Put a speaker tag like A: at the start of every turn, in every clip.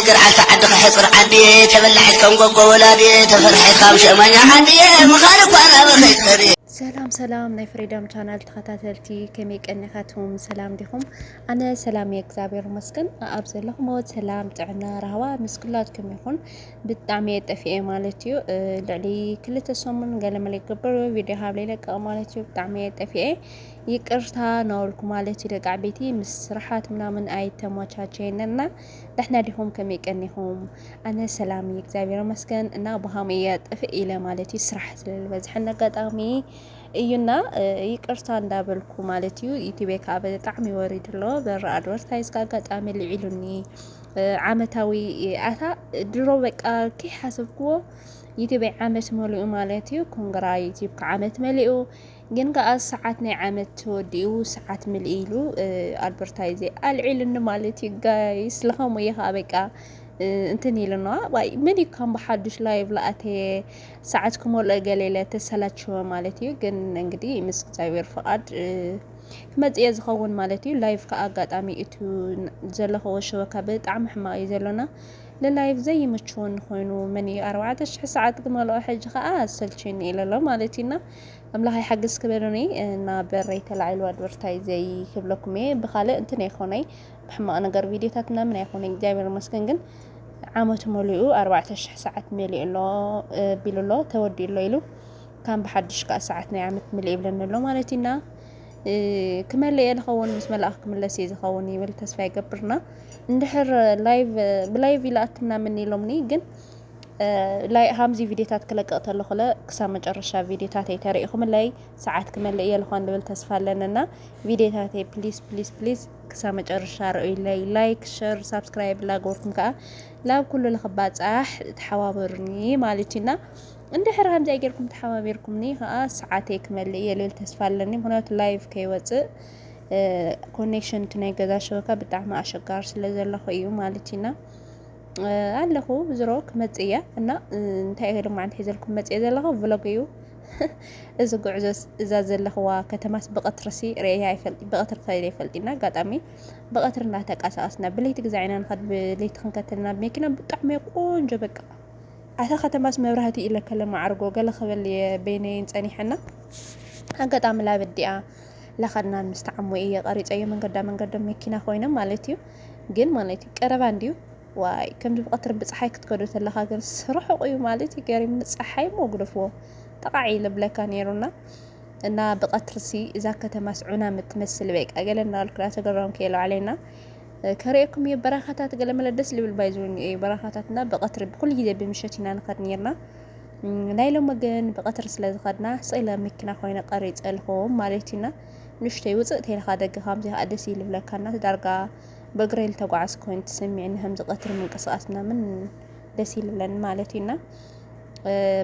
A: ገርዓልታ ዓድኻ ሕፅር ዓድየ ተበላሒት ከም ጎጎ ወላድየ ተፈርሒት ካብ ሸማኛ ዓድየ ምኻን እኳ ናብ ኸይትኸሪ ሰላም ሰላም
B: ናይ ፍሪደም ቻናል ተኸታተልቲ ከመይ ቀኒኻትኩም ሰላም ዲኹም? ኣነ ሰላም እየ እግዚኣብሔር ይመስገን። ኣብ ዘለኹሞ ሰላም፣ ጥዕና፣ ራህዋ ምስ ኩላትኩም ይኹን። ብጣዕሚ እየ ጠፊኤ ማለት እዩ ልዕሊ ክልተ ሰሙን ገለመለ ይገብር ቪድዮ ሃብለ ይለቀቕ ማለት እዩ ብጣዕሚ እየ ጠፊኤ ይቅርታ ናወልኩ ማለት እዩ ደቂ ዓበይቲ ምስ ስራሓት ምናምን ኣይተመቻቸየን እና ደሕና ዲኹም ከመይ ቀኒኹም ኣነ ሰላም እዩ እግዚኣብሔር ይመስገን እና ብሃም እየ ጥፍእ ኢለ ማለት እዩ ስራሕ ስለዝበዝሐን ኣጋጣሚ እዩና ይቅርታ እንዳበልኩ ማለት እዩ ዩቲቤ ከዓ ብጣዕሚ ወሪዱ ኣሎ በራ ኣድቨርታይዝ ኣጋጣሚ ልዒሉኒ ዓመታዊ ኣታ ድሮ በቃ ከይሓሰብክዎ ዩቲበይ ዓመት መሊኡ ማለት እዩ ኮንግራ ዩቲብካ ዓመት መሊኡ ግን ከዓ ሰዓት ናይ ዓመት ተወዲኡ ሰዓት ምልኢ ኢሉ ኣድቨርታይዘ ኣልዒሉኒ ማለት እዩ ጋይስ ለኸምኡ እዩ ከዓ በቃ እንትን ኢሉና ዋይ ምን እዩ ከም ብሓዱሽ ላይቭ ለኣተየ ሰዓት ክመልኦ ገሌለ ተሰላችወ ማለት እዩ ግን እንግዲህ ምስ እግዚኣብሔር ፈቃድ ክመጽእየ ዝኸውን ማለት እዩ ላይቭ ከ ኣጋጣሚ እቲ ዘለኸዎ ሸበካ ብጣዕሚ ሕማቅ እዩ ዘሎና ንላይቭ ዘይምችወኒ ኮይኑ መን እዩ ኣርባዕተ ሽሕ ሰዓት ክመልኦ ሕጂ ከኣ ኣሰልችዩኒ ኢለ ኣሎ ማለት እዩና ኣምላኽ ይሓግዝ ክበሉኒ እና በረይ ተላዒሉ ኣድቨርታይ ዘይክብለኩም እየ ብካልእ እንትን ኣይኮነይ ብሕማቅ ነገር ቪድዮታት ምናምን ኣይኮነይ እግዚኣብሔር ይመስገን ግን ዓመቱ መሊኡ ኣርባዕተ ሽሕ ሰዓት መሊኡ ኣሎ ቢሉ ኣሎ ተወዲኡ ኣሎ ኢሉ ካን ብሓድሽ ከኣ ሰዓት ናይ ዓመት ምልእ ይብለኒ ኣሎ ማለት እዩና ክመልእ እየ ዝኸውን ምስ መላእኽ ክምለስ እየ ዝኸውን ይብል ተስፋ ይገብርና እንድሕር ላይቭ ብላይቭ ይልኣክና ምን ኢሎምኒ ግን ላይ ሃምዚ ቪድዮታት ክለቅቕ ተለኹለ ክሳብ መጨረሻ ቪድዮታተይ ተሪኢኹምለይ ሰዓት ክመልእ እየ ዝኾን ዝብል ተስፋ ኣለንና ቪድዮታተይ ፕሊስ ፕሊስ ፕሊስ ክሳብ መጨረሻ ርእዩለይ ላይክ ሸር ሳብስክራይብ ላገበርኩም ከዓ ላብ ኩሉ ልኽባፃሕ ተሓባበሩኒ ማለት እዩና እንድሕር ከምዚኣ ጌርኩም ተሓባቢርኩምኒ ከኣ ሰዓተይ ክመልእ እየ ልብል ተስፋ ኣለኒ ምክንያቱ ላይቭ ከይወጽእ ኮኔክሽን እቲ ናይ ገዛ ሸበካ ብጣዕሚ ኣሸጋሪ ስለ ዘለኹ እዩ ማለት እዩና ኣለኹ ዝሮ ክመጽእ እያ እና እንታይ እየ ሎማዓንቲ ሒዘልኩም መጽእ ዘለኹ ቭሎግ እዩ እዚ ጉዕዞ እዛ ዘለኽዋ ከተማስ ብቐትርሲ ርእያ ይፈልጥ ብቐትሪ ከይደ ይፈልጥና ኣጋጣሚ ብቐትሪ እናተንቀሳቐስና ብለይቲ ግዛዕ ኢና ንኸድ ብለይቲ ክንከተልና ብመኪና ብጣዕሚ ቆንጆ በቃ ኣታ ከተማስ መብራህቲ ኢለ ከለ ማዓርጎ ገለ ክብል እየ በይነይን ጸኒሐና ኣጋጣሚ ላብ እዲኣ ላኸድናን ምስ ተዓሞ እየ ቀሪጸዮ መንገዳ መንገዶም መኪና ኮይኖም ማለት እዩ ግን ማለት እዩ ቀረባ እንድዩ ዋይ ከምዚ ብቀትሪ ብፀሓይ ክትከዶ ተለካ ግን ስርሑቅ እዩ ማለት እዩ ገሪም ንፀሓይ እሞ ግደፍዎ ጠቃዕ ኢለ ብለካ ነይሩና እና ብቀትርሲ እዛ ከተማስ ዑና ምትመስል በቃ ገለ እናበልኩ ተገረምኩ የለ ባዕለይና ከርእየኩም እየ በረኻታት ገለመለ ደስ ልብል ባይ ዝውኒ እዩ በረኻታትና ብቐትሪ ብኩሉ ግዜ ብምሸት ኢና ንኸድ ነርና ናይ ሎሚ ግን ብቐትሪ ስለ ዝኸድና ስለ መኪና ኮይነ ቀሪፀልኹም ማለት እዩና ንሽተይ ውፅእ ተይልካ ደገ ከምዚ ከዓ ደስ ይልብለካና ዳርጋ በእግረይ ልተጓዓዝ ኮይኑ ትስሚዕኒ ከምዚ ቀትሪ ምንቅስቃስ ምናምን ደስ ይልብለኒ ማለት እዩና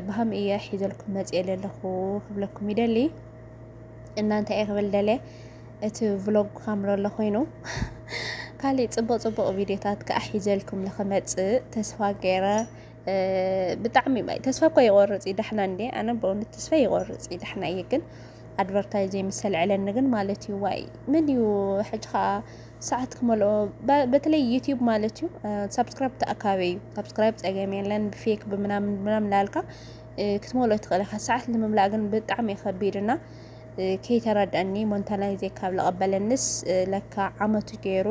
B: ብሃም እየ ሒዘልኩም መፅኤ ለለኹ ክብለኩም ይደሊ እናንተ እየ ክብል ደልየ እቲ ቭሎግ ካምረሎ ኮይኑ ካሊእ ፅቡቅ ፅቡቅ ቪድዮታት ከዓ ሒዘልኩም ንክመፅእ ተስፋ ገይረ ብጣዕሚ ተስፋ እኳ ይቆርፅ እዩ ዳሕና እንዴ ኣነ በእውነት ተስፋ ይቆርፅ እዩ ዳሕና እዩ ግን ኣድቨርታይ ዘይምሰልዕለኒ ግን ማለት እዩ ዋይ ምን እዩ ሕጂ ከዓ ሰዓት ክመልኦ በተለይ ዩቲዩብ ማለት እዩ ሳብስክራይብ ተኣካበ እዩ ሳብስክራይብ ፀገም የለን ብፌክ ብምናምን ምናምን ላልካ ክትመልኦ ትኽእል ኢኻ ሰዓት ንምምላእ ግን ብጣዕሚ እዩ ከቢድ እና ከይተረደኣኒ ሞንታላይዜ ካብ ለቐበለንስ ለካ ዓመቱ ገይሩ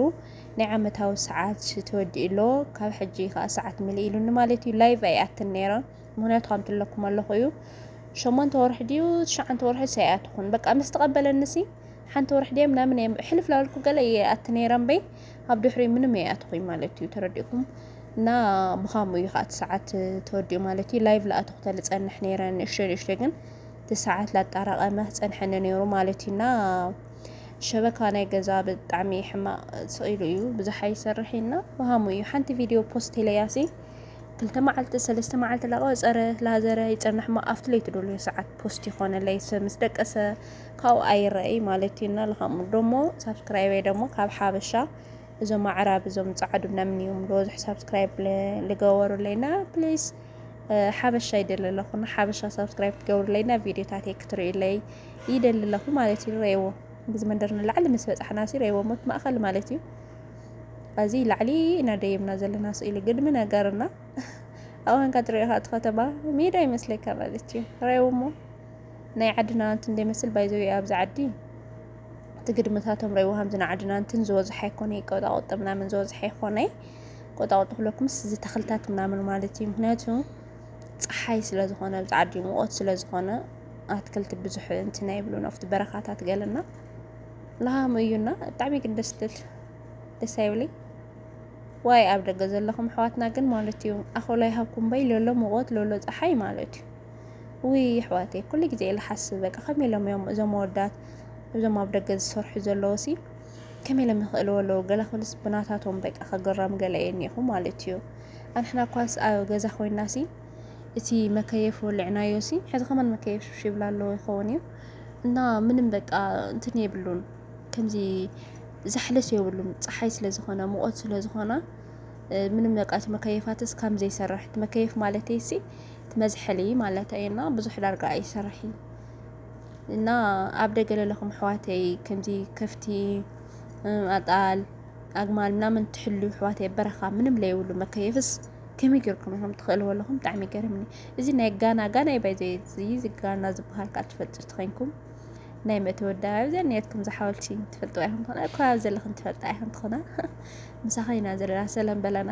B: ናይ ዓመታዊ ሰዓት ተወዲኡ ኣሎ ካብ ሕጂ ከኣ ሰዓት ምልእ ኢሉኒ ማለት እዩ ላይቭ ኣይኣትን ነይረ ምክንያቱ ከምቲ ኣለኩም ኣለኹ እዩ ሸሞንተ ወርሒ ድዩ ትሽዓንተ ወርሒ ሳይኣትኹን በቃ ምስ ተቐበለንሲ ሓንቲ ወርሒ ድየ ምናምን እየ ሕልፍ ላበልኩ ገለ እየ ኣቲ ነይረ እምበይ ኣብ ድሕሪኡ ምንም ኣይኣትኹኝ ማለት እዩ ተረዲእኩም እና ብኻምኡ እዩ ከዓ እቲ ሰዓት ተወዲኡ ማለት እዩ ላይቭ ለኣተኹ ተልፀንሕ ነይረ ንእሽተይ ንእሽተይ ግን ትሰዓት ላጣራቀመ ክጸንሐኒ ነይሩ ማለት እዩ እና ሸበካ ናይ ገዛ ብጣዕሚ ሕማቅ ስቅ ኢሉ እዩ ብዙሕ ኣይሰርሕ እዩ እና ወሃሙ እዩ ሓንቲ ቪድዮ ፖስት ኢለያሲ ክልተ መዓልቲ ሰለስተ መዓልቲ ላቀ ጸረ ላዘረ ይጸንሕ ሞ ኣብቲ ለይቲ ደልዮ ሰዓት ፖስት ይኮነለይ ሰብ ምስ ደቀሰ ካብኡ ኣይረኣይ ማለት እዩ እና ልሃሙ ደሞ ሳብስክራይበይ ደሞ ካብ ሓበሻ እዞም ኣዕራብ እዞም ጻዓዱ ናምን እዮም ሎዝሕ ሳብስክራይብ ልገበሩለይና ፕሊስ ሓበሻ ይደሊ ኣለኹ ንሓበሻ ሳብስክራይብ ክትገብሩለይና ቪድዮታተይ ክትርእዩለይ ይደሊ ኣለኹ ማለት እዩ ረእዎ ብዚ መንደር ንላዕሊ ምስ በፃሕና ሲ ረእዎ ሞት ማእኸል ማለት እዩ እዚ ላዕሊ ኢና ደይብና ዘለና ስእሊ ግድሚ ነገርና ኣዋንካ ትሪኦ እቲ ከተማ ሜዳ ይመስለካ ማለት እዩ ረእዎ እሞ ናይ ዓድና እንትን ደይመስል ባይዘዊ ኣብዚ ዓዲ እቲ ግድምታቶም ረይዎ ሃምዚ ናዓድና እንትን ዝወዝሐ ኣይኮነ ቆጣቆጠ ምናምን ዝወዝሐ ይኮነ ቆጣቆጠ ክለኩምስ እዚ ተክልታት ምናምን ማለት እዩ ምክንያቱ ፀሓይ ስለዝኮነ ኣብዚ ዓዲ ሙቆት ስለዝኮነ ኣትክልቲ ብዙሕ እንትን ኣይብሉን ኣብቲ በረካታት ገለና ላሃሙ እዩና ብጣዕሚ ግን ደስ ትብል ደስ ኣይብለይ ዋይ ኣብ ደገ ዘለኹም ኣሕዋትና ግን ማለት እዩ ኣኸሎ ይሃብኩም በይ ሎሎ ሙቆት ሎሎ ፀሓይ ማለት እዩ ውይ የሕዋተይ ኩሉ ግዜ እየ ልሓስብ በቃ ከመይ ኢሎም እዮም እዞም ኣወዳት እዞም ኣብ ደገ ዝሰርሑ ዘለዎ ሲ ከመይ ኢሎም ይኽእልዎ ኣለዉ ገለ ክብልስ ብናታቶም በቃ ከግረም ገለ እየ እኒኹ ማለት እዩ ኣንሕና እኳስ ኣብ ገዛ ኮይና ሲ እቲ መከየፍ ወልዕናዮ ሲ ሕዚ ከማን መከየፍ ሽሽ ይብላ ኣለዎ ይኸውን እዩ እና ምንም በቃ እንትን የብሉን ከምዚ ዛሕለስ የብሉን ፀሓይ ስለዝኾነ ሙቐት ስለዝኾነ ምንም በቃ እቲ መከየፋትስ ከም ዘይሰርሕ መከየፍ ማለት ሲ መዝሐሊ ማለት እዩ እና ብዙሕ ዳርጋ ኣይሰርሕ እዩ እና ኣብ ደገ ለለኹም ኣሕዋተይ ከምዚ ከፍቲ ኣጣል ኣግማል ምናምን ትሕሉ ኣሕዋተይ በረኻ ምንም ለይብሉ መከየፍስ ከመይ ጌርኩም ኢኹም ትኽእልዎ ኣለኹም ብጣዕሚ ይገርምኒ እዚ ናይ ጋና ጋና እዩ ባይዘ እዚ ጋና ዝበሃል ከዓ ትፈልጡ ትኸንኩም ናይ መተወዳ ኣብዘ ነትኩም ዝሓወልቲ ትፈልጡ ኣይኹም ትኾና እኳ ኣብ ዘለኽን ትፈልጣ ኣይኹም ትኾና ምሳኸ ኢና ዘለና ሰለም በለና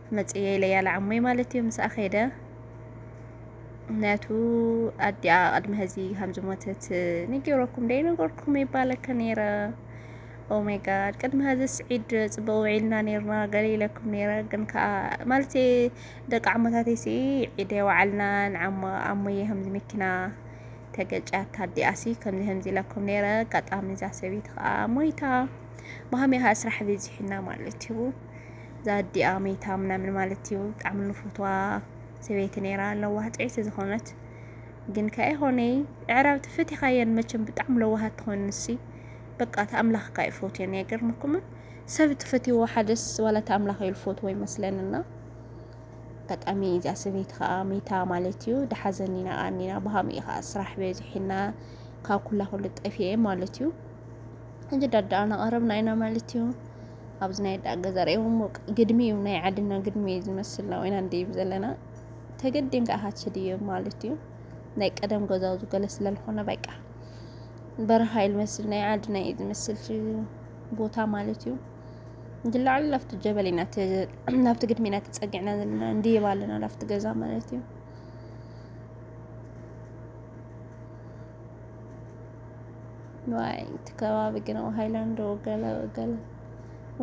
B: መጽየ ኢለያ ለዓሞይ ማለት እዩ ምስኣ ከይደ ምክንያቱ ኣዲኣ ቅድሚ ሀዚ ከም ዝሞተት ንጌረኩም ደይ ነገርኩም ይባለከ ነይረ ኦሜጋድ ቅድሚ ሀዚ ስዒድ ፅቡቅ ውዒልና ነርና ገለ ኢለኩም ነይረ ግን ከዓ ማለት ደቂ ዓሞታተይ ሲ ዒደ ወዓልናን ኣሞየ ከምዚ መኪና ተገጫታ ኣዲኣሲ ከምዚ ከምዚ ኢለኩም ነይረ ኣጋጣሚ እዛ ሰበይቲ ከዓ ሞይታ ብሃሚያ ስራሕ በዚሕና ማለት እዩ ዛዲኣ መይታ ምናምን ማለት እዩ ብጣዕሚ ንፍትዋ ሰበይቲ ነይራ ለዋህ ጥዕይቲ ዝኾነት ግን ከ ኣይኾነይ ዕራብ ትፈቲኻየን መቸም ብጣዕሚ ለዋሃት ትኾን ንሲ በቃ ተኣምላኽካ እዩ ፎትዮን ኣይገርመኩምን ሰብ ትፈትዎ ሓደስ ዋላ ተኣምላኽ እዩ ልፎትዎ ይመስለንና ኣጋጣሚ እዚኣ ሰበይቲ ከዓ መይታ ማለት እዩ ደሓዘኒ ኢና ኣኒና ብሃም እዩ ከዓ ስራሕ በዚሒና ካብ ኩላ ኩሉ ጠፊኤ ማለት እዩ እንጂ ዳዳኣ ናቐረብና ኢና ማለት እዩ ኣብዚ ናይ ኣዳ ገዛ ርእዎም ግድሚ እዩ ናይ ዓድና ግድሚ እዩ ዝመስል ናብ ኢና ንድይብ ዘለና ተገዲንካ ኢኻ ትድይብ ማለት እዩ ናይ ቀደም ገዛውዚ ገለ ስለልኾነ በቃ በረኻ እዩ ዝመስል ናይ ዓድና እዩ ዝመስል ቦታ ማለት እዩ ግላዕሉ ናብቲ ጀበል ኢና ናብቲ ግድሚ ኢና ተፀጊዕና ዘለና እንድይብ ኣለና ናብቲ ገዛ ማለት እዩ ዋይ እቲ ከባቢ ግን ሃይላንዶ ገለ ገለ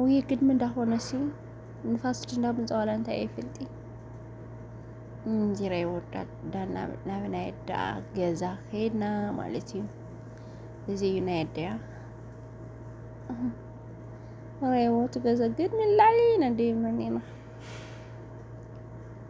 B: ውይ ግድሚ እንዳኾነ ሲ ንፋስ ድንዳ ምንፀዋላ እንታይ ይፍልጢ እንዚራ ይወዳል ዳና ናብ ናይ ኣዳ ገዛ ኸይድና ማለት እዩ እዚ እዩ ናይ ኣደያ ረይወት ገዛ ግን ንላዕሊ ነደይ መኒና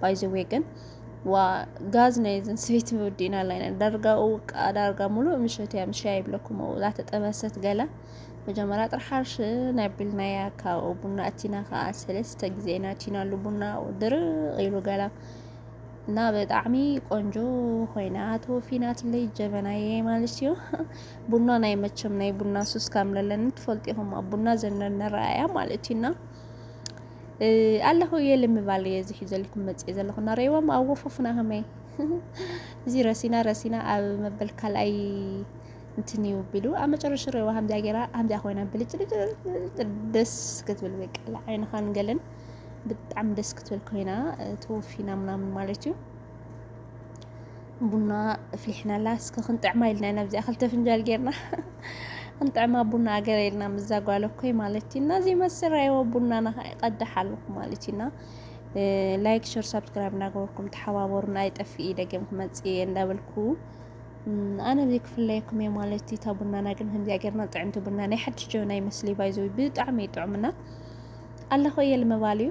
B: ባይዘዌ ግን ዋ ጋዝ ናይ ዘን ሰበይቲ ምውዲና ላይ ዳርጋ ውቃ ዳርጋ ሙሉእ ምሸት እያ ምሸያ ይብለኩም እላ ተጠበሰት ገላ መጀመሪያ ጥራሕ ሓርሽ ናይ ቢልናያ ካብኡ ቡና እቲና ከዓ ሰለስተ ግዜ ኢና እቲናሉ ቡና ድርቅ ኢሉ ገላ እና ብጣዕሚ ቆንጆ ኮይና ተወፊናትለይ ጀበናየ ማለት እዩ ቡና ናይ መቸም ናይ ቡና ሱስ ካምለለኒ ትፈልጢኹም ኣብ ቡና ዘነነረኣያ ማለት እዩና ኣለኹ እየ ልምባል እየ እዚ ሒዘልኩም መፅእ ዘለኹ እናረእዎም ኣብ ወፎፍና ከመይ እዚ ረሲና ረሲና ኣብ መበል ካልኣይ እንትን እዩ ቢሉ ኣብ መጨረሻ ረእዋ ከምዚኣ ገይራ ከምዚኣ ኮይና ብልጭልጭ ደስ ክትብል በቃ ዓይንኻን ገለን ብጣዕሚ ደስ ክትብል ኮይና ተወፊና ምናምን ማለት እዩ ቡና ኣፍሊሕና ኣላ እስኪ ክንጥዕማ ኢልና ኢና ብዚኣ ክልተ ፍንጃል ጌርና ክንጥዕማ ቡና ኣገረ ኢልና ምዛ ጓል እኮይ ማለት ኢና እዚ መስራይዎ ቡናና ከዓ ይቀዳሕ ኣለኩ ማለት ኢና ላይክ ሸር ሳብስክራይብ እናገበርኩም ተሓባበሩና ኣይጠፍእ ደገም ክመፅእ እየ እንዳበልኩ ኣነ ብዚ ክፍለየኩም እየ ማለት እታ ቡናና ግን ከምዚኣ ጌርና ጥዕምቲ ቡና ናይ ሓድሽ ጀበና ይመስሊ ባይዘዊ ብጣዕሚ ይጥዑምና ኣለኹ እየ ልምባል እዩ